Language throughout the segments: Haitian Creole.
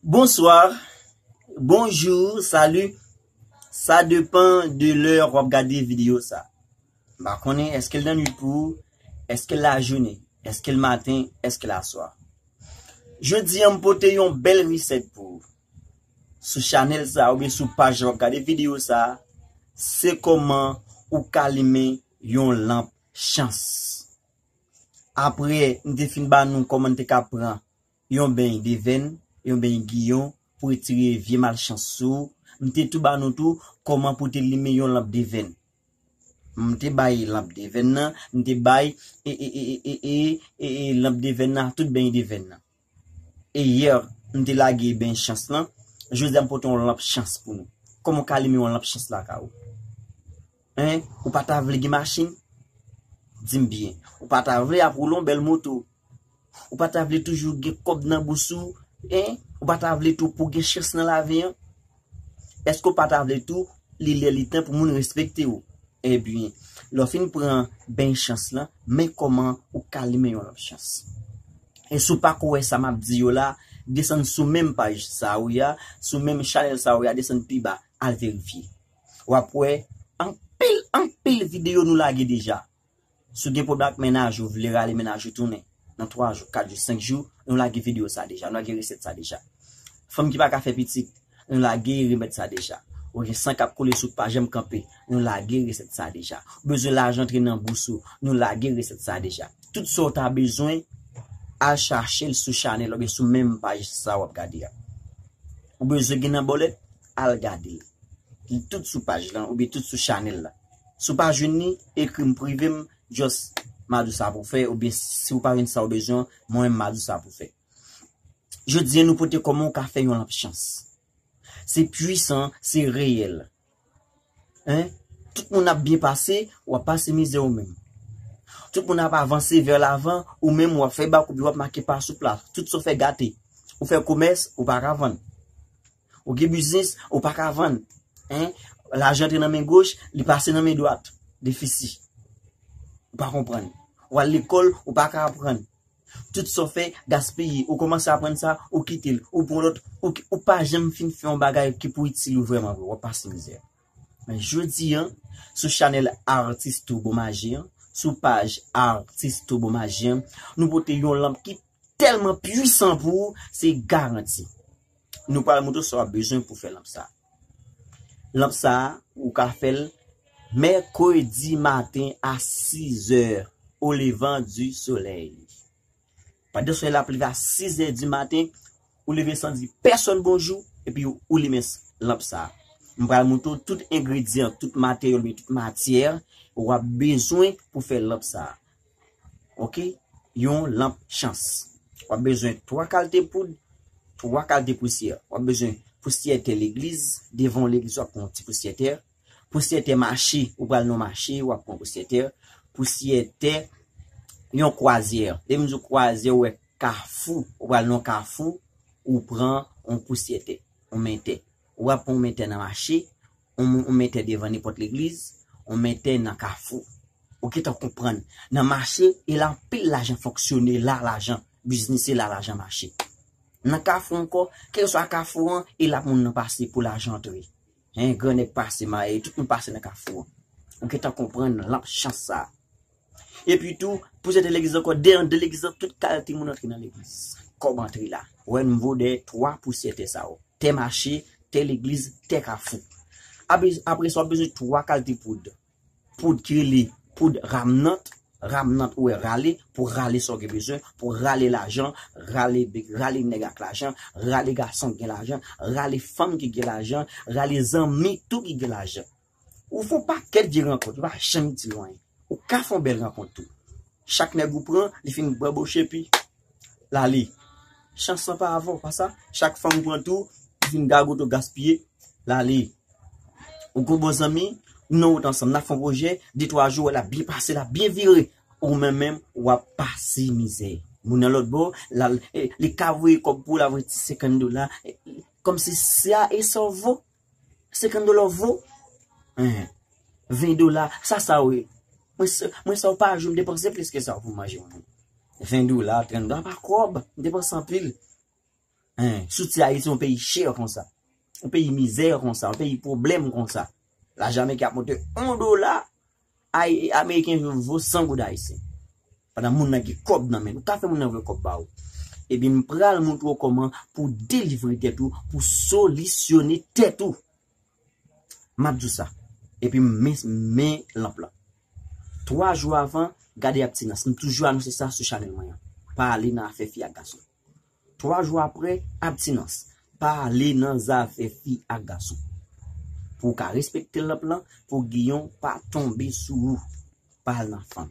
Bonsoir, bonjour, salut Sa depan de lè wap gade video sa M pa konnen eske l nan nwit pou ou Eske l lajounen Eske l maten Eske l aswa Jodi an m pote yon bèl resèt pou ou Sou chanèl sa oubyen sou paj la wap gade video sa Se kòman ou k alimen yon lanp chans Apre n te fin ba nou kòman n te ka pran yon beny devenn, yon beny giyon pou retire vye malchans sou ou, m te tou ba nou tou kòman pou te limen yon lanp devenn. M te bay lanp devenn nan, m te bay e, e, e, e, e, e, e, e, lanp devenn nan ak tout beny devenn nan. Hier m te lage ben chans lan, jodi a m pote yon lanp chans pou nou. Kòman w ka limen yon lanp chans lakay ou? Hein, ou pa ta vle gen machin? Di m byen, ou pa ta vle ap woule yon bèl moto? Ou pa ta vle toujou gen kòb nan bous ou? Hein, ou pa ta vle tou pou w gen chans nan lavi an? Èske w pa ta vle tou li lè li tan pou moun respekte w? Ebyen, lè w fin pran beny chans lan, men kòman ou ka limen yon lòt chans. E si w pako wè sa m ap di yo la, desann sou menm paj sa a ou ye a, sou menm chanèl sa a ou ye a, desann pi ba, al verifye. W ap wè anpil, anpil videyo nou lage deja. Si w gen pwoblèm ak mennaj ou, ou vle rale mennaj ou tounen nan 3 jou, 4 jou, 5 jou, nou lage videyo sa deja, nou lage resèt sa deja. Fanm ki pa ka fè pitit, nou lage remèd sa deja. Ou gen san k ap koule sou k pa janm kanpe, nou lage resèt sa deja. Ou bezwen lajan antre nan bous ou, nou lage resèt sa deja. Tout sa w ta bezwen, al chache l sou chanèl oubyen sou menm paj sa w ap gade a. Ou bezwen gen nan bòlèt, al gade l. Li tout sou paj lan oubyen tout sou chanèl la. Si w pa jwenn li, ekri m prive m just Madou sa pou fè oubyen si w pa jwenn sa w bezwen an, mwen menm Madou sa pou fè. Jodi an nou pote kòman w ka fè yon lanp chans. Se pwisan, se reyèl. Hein, tout moun ap byen pase, w ap pase mizè ou menm. Tout moun ap avanse vè lavan, ou menm w ap fè bak oubyen w ap make pa sou plat. Tout sa w fè gate. Ou fè komès, ou pa ka vann. Ou gen biznis, ou pa ka vann. Lajan antre nan men goch, li pase nan men dwat. Defisi. Ou pa konprann. Ou al lekòl, ou pa ka aprann. Tout sa w fè, gaspiye. Ou kòmanse aprann sa, ou kite l. Ou pran lòt. Ou pa janm fin fè yon bagay ki pou itil ou vrèman vre. W ap pase mizè. Men jodi an, sou chanèl Atis Turbo Maji an, sou paj Atis Turbo Maji an, nou pote yon lanp ki tèlman puisan pou ou, se garanti. Nou pral moutre w sa w ap bezwen pou fè lanp sa. Lanp sa ou ka fè l mèkredi maten a 6 zè o levan di solèy. Pandan solèy la ap leve a 6 zè di maten, ou leve san di pèsòn bonjou epi ou limen lanp sa. M pral moutre w tout engredyan, tout materyèl oubyen tout matyè ou ap bezwen pou fè lanp sa. Ok yon lanp chans w ap bezwen 3 kalte poud 3 kalte pousyè w ap bezwen pousyè tè legliz devan yon legliz w ap pran yon ti pousyè tè pousyè tè mache ou pral nan yon mache w ap pran pousyè tè pousyè tè yon kwazyè lè m di yon kwazyè ou wè kafou ou pral nan yon kafou ou pran yon pousyè tè yon men tè ou ap pran yon men tè nan mache On mètè devan nenpòt legliz, on mètè nan kafou. Ou gentan konprann. Nan mache, e la anpil lajan fonksyone, la lajan biznise, la lajan mache. Nan kafou ankò, kèlkeswa kafou an, e la moun nan pase pou lajan antre. Hein, gran nèg pase maye, tout moun pase nan kafou an. Ou gentan konprann lanp chans sa a. Epi tou, pou sèten legliz ankò, 2 an, 2 legliz lan, tout kalte moun antre nan legliz. Kòb antre la. Wè n vo dèyè 3 pou sèten sa yo. Tè mache, tè legliz, tè kafou. Ape, apre sa w ap bezwen 3 kalte poud. Poud ki rele poud ramnant, ramnant ou wè rale, pou rale sa w gen bezwen, pou rale lajan, rale, rale nèg ak lajan, rale gason ki gen lajan, rale fanm ki gen lajan, rale zanmi tou ki gen lajan. Ou fon pakèt vye rankont, ou pa janm itil anyen. Ou ka fon bèl rankont tou. Chak nèg ou pran, li fin banboche epi lale. Chans lan pa avè w, pa sa? Chak fanm ou pran tou, li fin gagote, gaspiye, lale. Ou gen yon bon zanmi, nou nan wout ansanm, nan fon pwojè, de twa jou, wè l ap byen pase, l ap byen vire. Ou menm menm, w ap pase mizè. Moun nan lòt bò, l al, li ka voye kòb pou w, l ap voye ti senkann dola. Kòmsi sa e sa w vo? 50 dollars vo eh 20 dollars sa sa ou ye mwen sa ou pa jou m depanse plis ke sa ou pou manje yon moun 20 dollars 30 dollars pa kob m depanse anpil eh soti ayiti yon peyi cher konsa yon peyi mizè konsa yon peyi problem konsa la jamaica ap monte 1 dollars Ay ameriken yo vo 100 goud ayisyen pandan moun nan gen kob nan menl ou ka fè moun nan voye kob ba ou ebyen m pral moutre w koman pou delivre tèt ou pou solisyone tèt ou map di w sa epi m men lanp lan 3 jou avan gade abtinans m toujou anonse sa sou chanèl mwen an pa ale nan afè fi ak gason. 3 jou apre abtinans. Pa ale nan zafè fi ak gason. Pou w ka respekte l nan plan pou Guillon pa tonbe sou ou. Pa al nan fanm.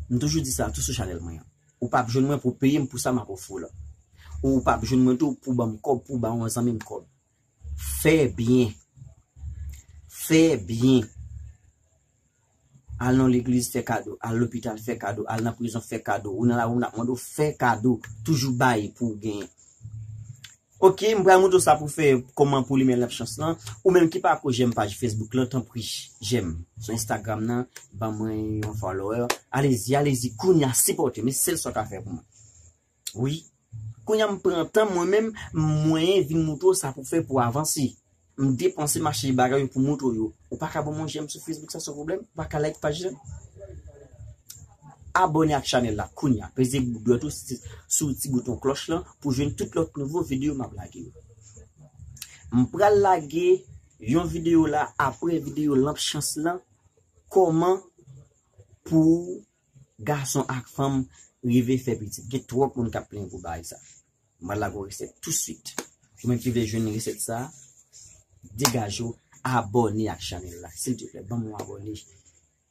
M toujou di sa tou sou chanèl mwen an. Ou pap jwenn mwen pou w peye m pou sa m ap ofri w lan. Ou pap jwenn mwen tou pou w ban m kòb pou w ba yon zanmi m kòb. Fè byen. Fè byen. Al nan legliz fè kado. Al lopital fè kado. Al nan prizon fè kado. Ou nan lari moun ap mande w fè kado. Toujou bay pou w genyen. Ok, m pral montre w sa pou w fè kòman pou w limen lanp chans lan. Ou menm ki pako jèm paj Facebook lan tanpri jèm. Sou Instagram nan ban mwen yon follower. Alezi, alezi kounya sipòte m. E sèl sa w ka fè pou mwen. Wi. Kounya m pran tan mwen menm m mwenyen vin moutre w sa pou fè pou avanse. M depanse m achte bagay yo pou moutre w yo. Ou pa ka ban mwen jèm sou Facebook sa san pwoblèm? Ou pa ka like paj la? Abòne ak chanèl la kounya. Peze dwèt ou sou ti bouton klòch lan pou jwenn tout lòt nouvo videyo m ap lage yo. M pral lage yon videyo la apre videyo lanp chans lan, kòman pou w gason ak fanm rive fè pitit gen twòp moun kap plenyen pou bagay sa mwen lague yon resèt tou swit ou menm ki vle jwenn resèt sa degaje w abòne ak chanèl la siltvouplè banm yon abòne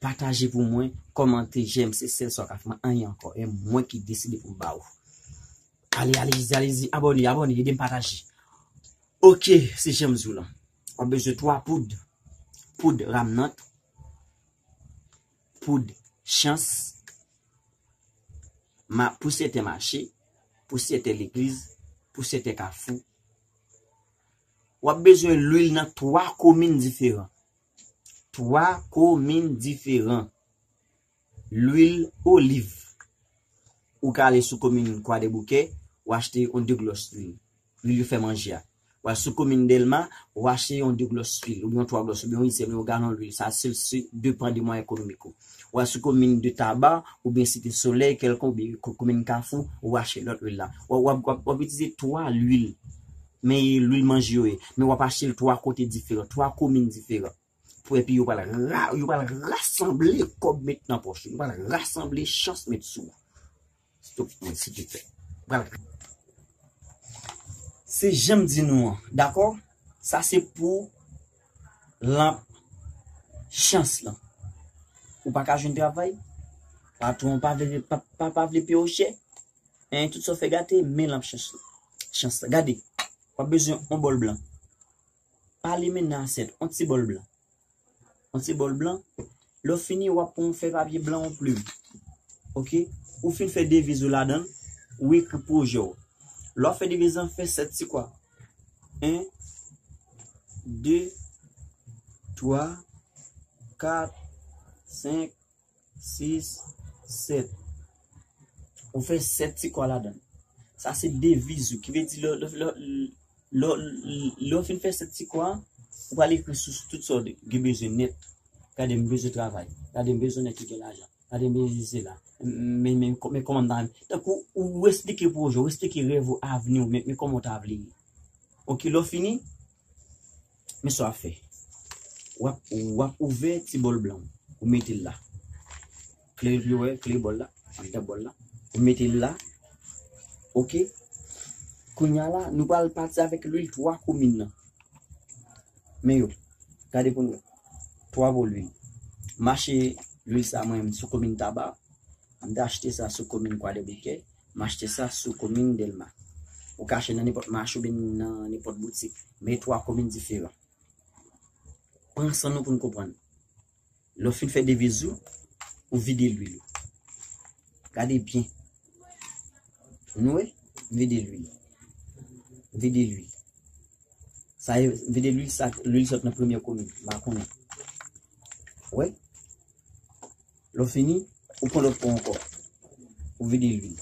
pataje pou mwen kòmante jèm se sèl sa w ka fè mwen anyen ankò e mwen ki deside pou m ba ou ale alezi alezi abòne abòne ede m pataje ok se janm di w lan wap bezwen 3 poud poud ramnant Poud chans ma pou sete mache, pou sete legliz, pou sete kafou. W ap bezwen lwil nan 3 komin diferan. 3 komin diferan. Lwil oliv. Ou ka ale sou komin Kwadeboukè, ou achte yon 2 glòs lwil. Lwil yo fè manje a. Wè sou komin Delma, ou achte yon 2 glòs lwil, oubyen yon 3 glòs, oubyen yon ityèm, yon galon lwil, sa se se depan de mwayen ekonomik ou. Wè sou komin de Taba, oubyen Site Solèy, kèlkon, oubyen komin Kafou, ou achte lòt lwil la. Wè wap wap wap itilize 3 lwil, men lwil manje yo ye, men wap achte l 3 kote diferan, 3 komin diferan. Pou epi yo pral ra, yo pral rasanble kòb met nan pòch ou, yo pral rasanble chans met sou ou. Stop mwen si te fè. Pral. Se janm di nou an, dakò? Sa se pou lanp chans lan. Ou pa ka jwenn travay, patwon ou pa vle pa pa vle peye ou chè, hein, tout sa ou fè gate, men lanp chans lan. Chans lan. Gade, w'ap bezwen yon bòl blan. Pa limen nan asyèt, on ti bòl blan. On ti bòl blan. Lè w fini, w ap pran yon fèy papye blan, yon plim. Ok? Ou fin fè deviz ou ladan l, ou ekri pwojè w. Lè w ap fè deviz lan, fè sèt ti kwa. En, de, twa, kat, senk. 6, 7. Ou fè 7 ti kwa ladan. Sa se deviz ou. Ki vle di lè ou fin fè 7 ti kwa, ou pral ekri sou tout sa ou gen bezwen nèt. Gade m bezwen travay. Gade m bezwen nèg ki gen lajan. Gade m bezwen se la. Men kòman m ta renmen. Tankou ou esplike pwojè ou, ou esplike rèv ou, avni ou, men kòman ou ta vle ye. Ok, lè ou fini, Men sa wap fè. Wap wap ouvè ti bòl blan ou. Ou metel la. Kle yo dwe wè, kle bòl la, andan bòl la. Ou metel la. Ok. Kounya la nou pral pati avèk lwil 3 komin nan. Men yo. Gade pou nou wè. 3 bòl lwil. Mache lwil sa mwen sou komin taba. Mta achte sa sou komin kwadèboukè. M achte sa sou komin Delma. Ou ka achte nan nenpòt mache oubyen nan nenpòt boutik. Men 3 komin diferan. Pran san nou pou n konprann. Lè w fin fè deviz ou, ou vide lwil ou. Gade byen. Nou wè? M vide lwil. M vide lwil. Sa e, m vide lwil sa, lwil sot nan premye komin. M pa konnen. Ou wè? Lè w fini, ou pran lòt po ankò. Ou vide lwil.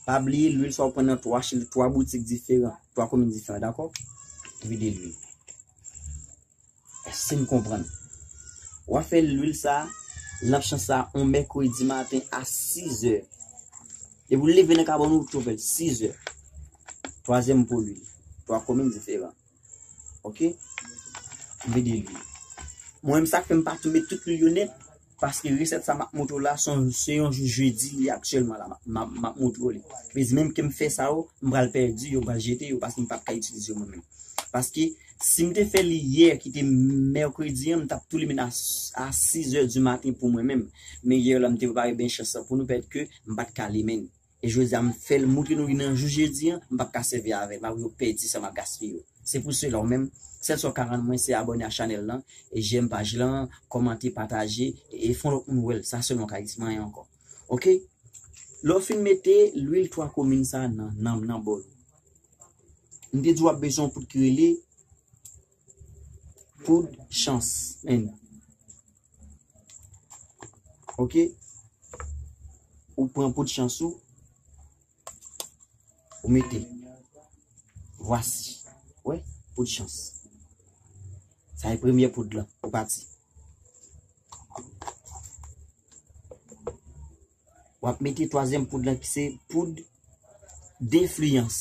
Pa bliye lwil sa ou pran nan 3 chil, 3 boutik diferan, 3 komin diferan, dakò? Ou vide lwil. Èske n konprann? W ap fè lwil sa a, lanp chan sa a, yon mèkredi maten a 6 zè. Depi ou leve nan kabòn ou, ou tou fè l. 6 zè. Twazyèm po lwil. 3 komin diferan. Ok. Vide lwi. Mwen menm sak fèm pa tou met tout lwi yo net paske resèt sa map montre la son se yon jou jeudi li aktyèlman la map montre li. Vezi menm kem fè sa yo m pral pèdi yo m pral jete yo paske m pap ka itilize yo mwen menm. Paske sim te fè li yè ki te mercredi an m tap tou li menn a 6 heures du matin pou mwen menm. Men yè la m te prepare bench sa pou nou pètke m pat ka limenn. E jodi a m fèl moutre nou li nan jou jedi an, m pap ka sèvi avèl, map yo pèdi sa map gaspiye yo. Se pou sela ou menm, sèl sa w ka rann mwen se abòne a chanèl lan, e jèm paj lan, kòmante, pataje, e fon lòt moun wèl, sa sèlman w ka di, sinon anyen ankò. Ok, lè w fin mete lwil 3 komin sa nan nan nan bòl ou. M te di w wap bezwen yon poud ki rele poud chans. Ok. Ou pran pot chans ou. Ou mete. Vwasi. Wè, pot chans. Sa e premye pot la. Ou pati. Wap mete twazyèm poud lan ki se poud defliyans.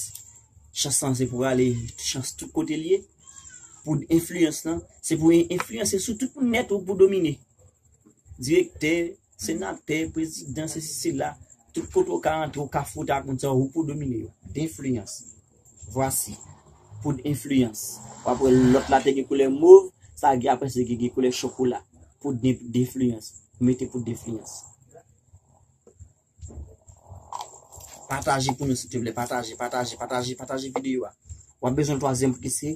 Chans lan se pou ale chans tout kote li ye. Poud enfliyans lan se pou enfliyanse sou tout moun nèt ou pou domine. Direktè, senatè, prezidan, sesi sela, tout kote ou ka antre ou ka fwote ak moun sa yo pou domine yo. Defliyans. Vwasi. Poud enfliyans. W ap wè lòt la te gen koulè mov, sa a gen apre se gen gen koulè chokola. Poud denfliyans. Mete poud denfliyans. Pataje pou nou silteplè. Pataje, pataje, pataje, pataje videyo a. W ap bezwen twazyèm pou ki se.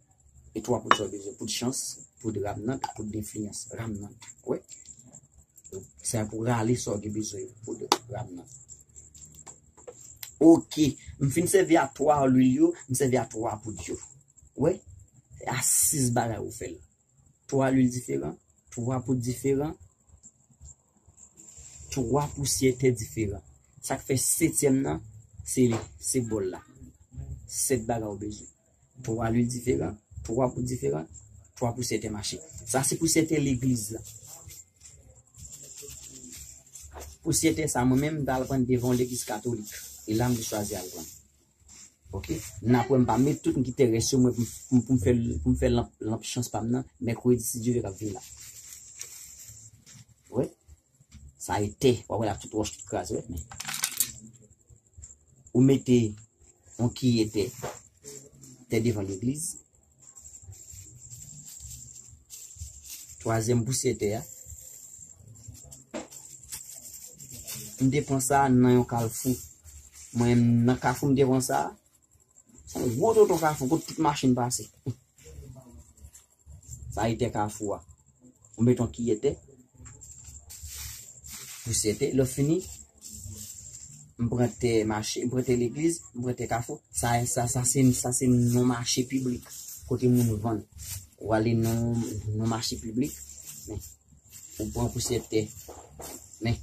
E 3 poud sa yo bezwen poud chans, poud ramnant, poud denfliyans. Ramnant. Wè? Sa pou rale sa yo gen bezwen yo. Poud ramnant. Ok. M fin sèvi a 3 lwil yo, m sèvi a 3 poud yo. Wè? A 6 bagay ou fè la. 3 lwil diferan, 3 poud diferan, 3 pousyè tè diferan. Sa k fè setyèm nan, se bòl la. 7 bagay ou bezwen. 3 lwi diferan, 3 pou diferan, 3 pou sèten mache. Sa se pou sèten legliz la. Pou sèten sa mwen menm dal pran devan legliz katolik. E la m te chwazi al pran. Ok, nan apre m pa met tout m kite res yo mwen pou m fè lanp chans pa m nan, mèkredi si Dye vle kap vini la. Sa e tè. Wap wè la tout wòch tout kraze wè men. Ou mete on kiye tè. Tè devan legliz. Twazyèm pousye tè a. M te pran sa nan yon kalfou. Mwen nan kafou m te pran sa. Son gwo tonton kafou kote tout machin pase. Sa e tè kafou a. Ou met yon kiyè tè. Pousyè tè. Lè w fini, m pran tè mache, m pran tè legliz, m pran tè kafou. Sa e sa, sa se, sa se non mache piblik. Kote moun vann. Ou ale nan yon mache piblik, men, ou pran pousyè tè. Men,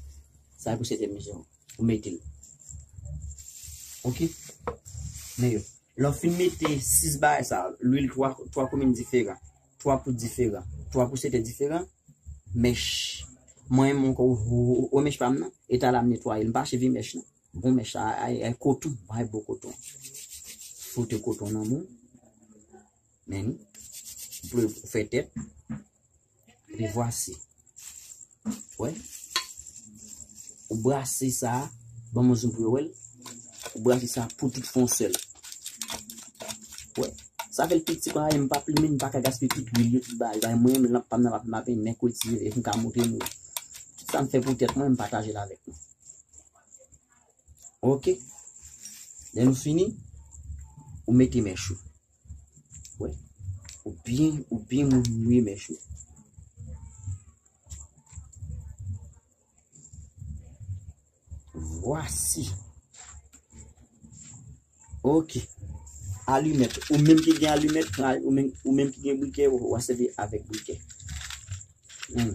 sa e pousyè tè, mezanmi. Ou mete l. Ok? Men yo. Lè w fin mete 6 bagay sa yo, lwil 3 3 komin diferan, 3 poud diferan, 3 pousetè diferan, mèch, mwen menm ankò wè mèch pa m nan, e talè a m netwaye l, m pa cheve mèch non, bon mèch sa a ay koton, ay bon koton, fwote koton nan men w, men ni, pou w fè tèt. Epi vwase. Wè. Ou brase sa. Ban mwen zoom pou yo wèl. Ou brase sa pou tout fon sèl. Wè. Sa fèl piti pa yon pa plimen pa ka gaspi tout lwil yo tout ba. Yon mwen yon lanp pam nan pa plimen apen men kou eti yon yon ka moute mwen. Tout sa m fè pou tèt mwen m pataje la vek mwen. Ok. Lè nou fini. Ou mete men chou. Wè. Ou byen, ou byen moun mouye mèch ou. Vwasi. Ok. Alimèt. Ou menm ki gen alimèt, ou menm ki gen brikè, ou a sèvi avèk brikè. Hmm.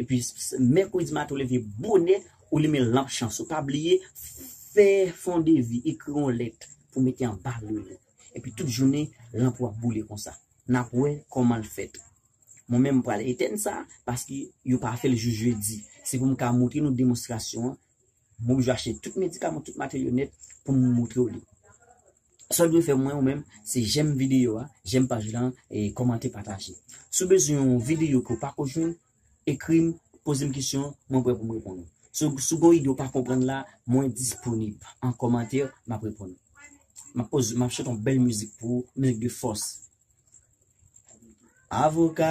Epi mèkredi maten ou leve bonè, ou limen lanp chans ou. Pa bliye fè fon de vi, ekri yon lèt pou mete anba lil ou. Epi tout jounen lanp ou ap boule konsa. Nap wè kòman l fèt. Mwen menm m pral etèn sa paske yo pa fè l jou jedi. Se pou m ka montre nou demonstrasyon an. Mwen oblije achte tout medikaman, tout materyèl yo nèt pou m montre w li. Sa w dwe fè mwen ou menm, se jèm videyo a, jèm paj lan, e kòmante, pataje. Si w bezwen yon videyo ke w pako jwenn, ekri m, poze m kesyon, mwen prè pou m reponn ou. Si w si w gen yon ide w pa konprann la, mwen disponib. An kòmantè, m ap reponn ou. M ap poze, m ap chante yon bèl mizik pou ou, mizik de fòs. Avoka!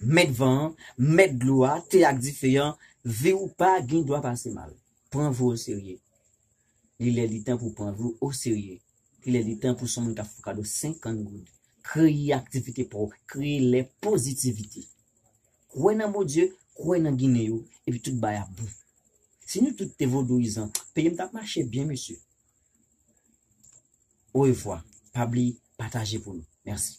Mèt van an, mèt dlo a, te ak dife an, vi w pa gen dwa pase mal. Pran vi w oserye. Li lè li tan pou w pran vi w oserye. Li lè li tan pou son moun k ap fè w kado 50 goud. Kreye aktivite pa w. Kreye lè pozitivite. Kwè nan Bondye, kwè nan Ginen yo, epi tout bagay ap bon. Si nou tout te vodouyizan, peyi m t ap mache byen mesye. Orevwa. Pa bliye pataje pou nou. Mèsi.